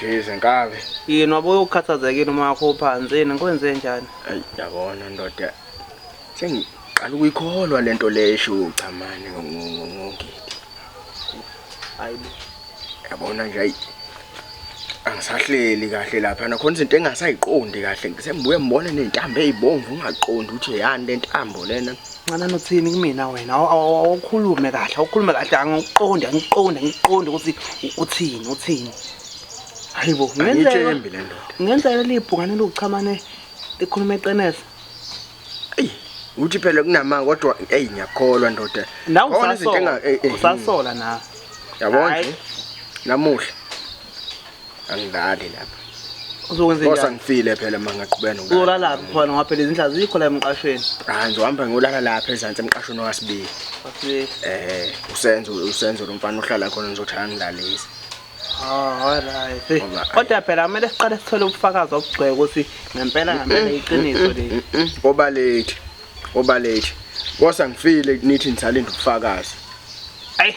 Geze nkabi. Yini wabuye ukhathazekile uma wakho phansi yini ngikwenze njani? Ayi yabona ndoda. Sengiqala ukuyikholwa lento le esho uchamane ngongidi. Hayibo. Yabona nje ayi angisahleli kahle lapha nakhona izinto engasayiqondi kahle ngisembuye ngibone nezintambo ezibomvu ungaqondi ukuthi yani lentambo lena. Hey. Ncanana uthini kumina wena awukhulume kahle awukhulume kahle angikuqondi angikuqondi angikuqondi ukuthi uthini uthini hayibo ngenzeka ngenzeka libhungane lokuchamane ekhuluma eqenesa eyi uthi phela kunamanga kodwa eyi ngiyakholwa ndoda nawe usasola eh, eh, usasola na yabona namuhla angidlali lapha uzokwenza bosa ngifile phela uma ngaqhubeka nokulala uzolalaphi khona ngoba phela izinhla zikho la emqashweni hayi ngizohamba ngiyolala lapha ezansi emqashweni owasibili eh usenzo usenzo lo mfana ohlala khona ngizothi angidlalise Oh, alright. Kodwa phela kumele siqale sithole ubufakazi obugcwele ukuthi ngempela ngempela iqiniso leli. Obalethi. Obalethi. Kosa ngifile nithi ngisalinda ubufakazi. Ayi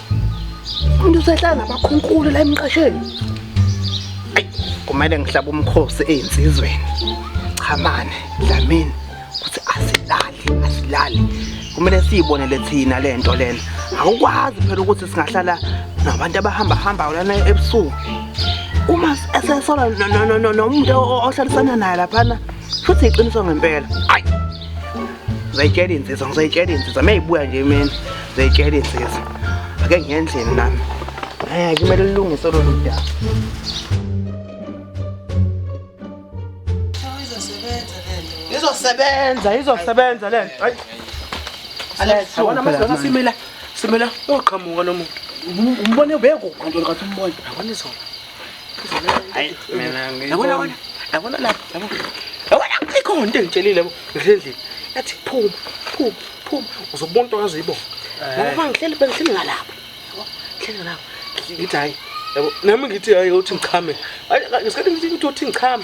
Umuntu usehlala nabakhunkulu la emqasheni. Ayi, kumele ngihlaba umkhosi ezinsizweni. Chamane, Dlamini, kuthi asilali, asilali. Kumele siyibonele thina lento lena. Awukwazi phela ukuthi singahlala nabantu abahamba hamba lana ebusuku. Uma esesola nomuntu ohlalisana naye laphana futhi iqiniso ngempela. Ayi. Ngizayitshela insizwa, ngizayitshela insizwa. Meyibuya nje imini, ngizayitshela insizwa. Ake ngiyendlini nami. Eh, kumele lilungise lolu daba. Izosebenza, izosebenza lento. Hayi. Alexa, wena mase wena simila. Simila, uqhamuka nomuntu. Umbone ubekho kanti kathi umbone. Yabona izona. Hayi mina yabona wena yabona lapha yabona yabona ikhona into engitshelile yabo ngihlendlini yathi phuma phuma phuma uzobona into wazi uyibona ngoba bangihleli bengihleli ngalapha yabo ngihleli ngalapha ngithi hayi yabo nami ngithi hayi uthi ngichame Hayi, ngesikhathi ngithi ngithi uthi ngichame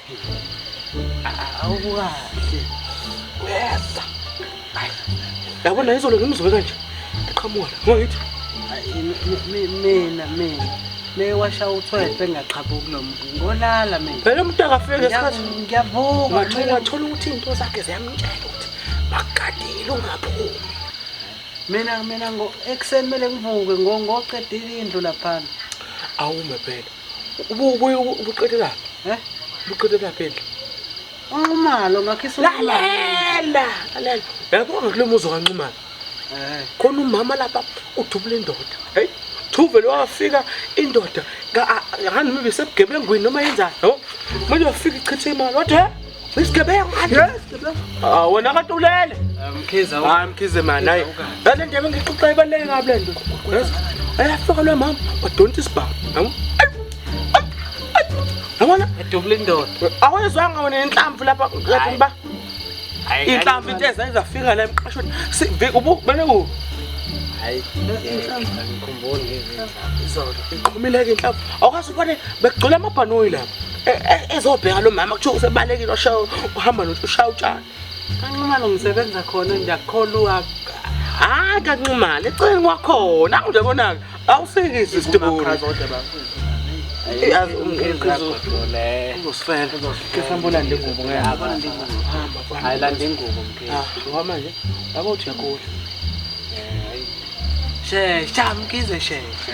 awukahle uyeza yabona izolo ngimzwe kanje eqhamuka ngoba ngithi mina mina mewasha uthwethe ngaqhabuki lo muntu ngolala mina phela umuntu akafike ngesikhathi ngiyavuka wathola wathola ukuthi into zakhe ziyamtshela ukuthi bagadile ungaphumi mina mina ngo ekuseni kumele ngivuke ngoqedile indlu laphana awume phela ubuqedelaphi um eh? ubuqedelaphi endle unxumalo ngakhislalela lalela yabo ngakulo muzi okanxumalo eh. khona umama lapha udubula indoda heyi thuvele wafika indoda ngani mibe sebugebengwini noma yenzani no manje wafika ichithe imali wathi Isigebengu manje. Ah wena kade ulele. Mkhize. Hayi Mkhize man hayi. Lale ndebe ngixoxa ibaleke kabi lento. Yes. Ayafika lo mama badonta isibhamu. Yabo? Yabona? Edubula indoda. Awezwanga wena inhlamvu lapha lapha mba. Inhlamvu into eza izafika la emqashweni. Sivi ubu bene ku. Hayi. Ngikhumbula ngizizwa. Izolo iqhumile ke inhlamvu. Awukazi ubone bekugcwele amabhanoyi lapha. ezobheka lo mama kuthiwa usebalekile oshayo uhamba nothi ushaya utshani kanxumalo ngisebenza khona ndiyakholwa hayi kanxumalo eceleni kwakhona akunje konaka awusekisi isitibuni shesha mkize shesha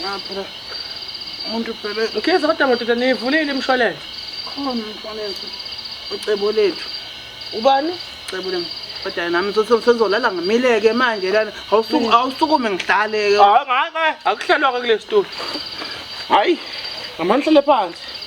Ngaphela umuntu phela Mkhize kodwa madoda nivulile imshwalense. Khona umshwalense ucebo lethu. Ubani? Cebo lami. Kodwa nami sezolala ngimileke manje lana awusuku awusukume ngidlaleke. Hayi ngake akuhlalwa ke kule studio. Hayi ngamandla lephansi.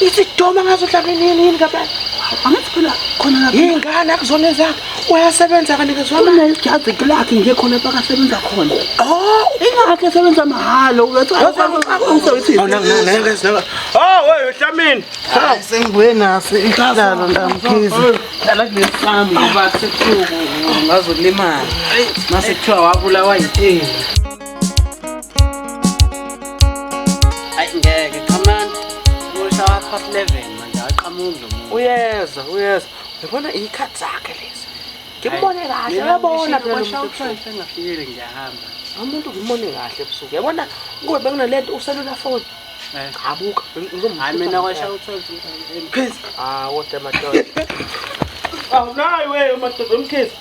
isidoma ngazodlala nini yini kabani angathi phela khona lapha ingane akuzona zakhe uyasebenza kanikezwa mali unejazi lakhe nje khona bakasebenza khona oh ingakhe esebenza mahhala Oh, wewe Hlamini. Hayi sengibuye naso ihlalo ndamkhizi. Dala kulesami ngoba sekuthiwa ngazolimala. Mase kuthiwa wabulawa yithini. uyeza uyeza uyabona iy'khathi zakhe lezi ngimbone kahle uyabona phelaengafikile ngiyahamba umuntu ngimbone kahle ebusuku yabona kuwe bekunale nto uselula foni eh. chabuka hayi mina kwasha uthwelphizi hawu kodwa madoda awunayi weyo madoda umkhizi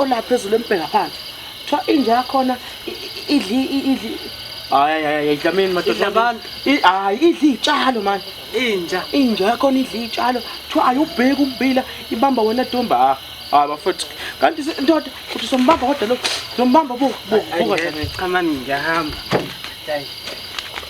olapha ezulu embheka phansi kuthiwa inja yakhona idli idli hayi hayi idlamini madoda abantu hayi idli itshalo mani inja inja yakhona idli itshalo kuthiwa ayubheki umbila ibamba wena domba ah, hayi bafethu kanti ndoda uthi sombamba kodwa lo sombamba bo bo bo cha mani ngiyahamba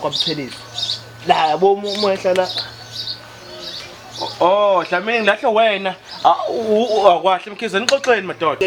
kwabuthelezi la yabo uma ehlala Oh, Dlamini ngahle wena. Akwahle mkhize nixoxeni madoda.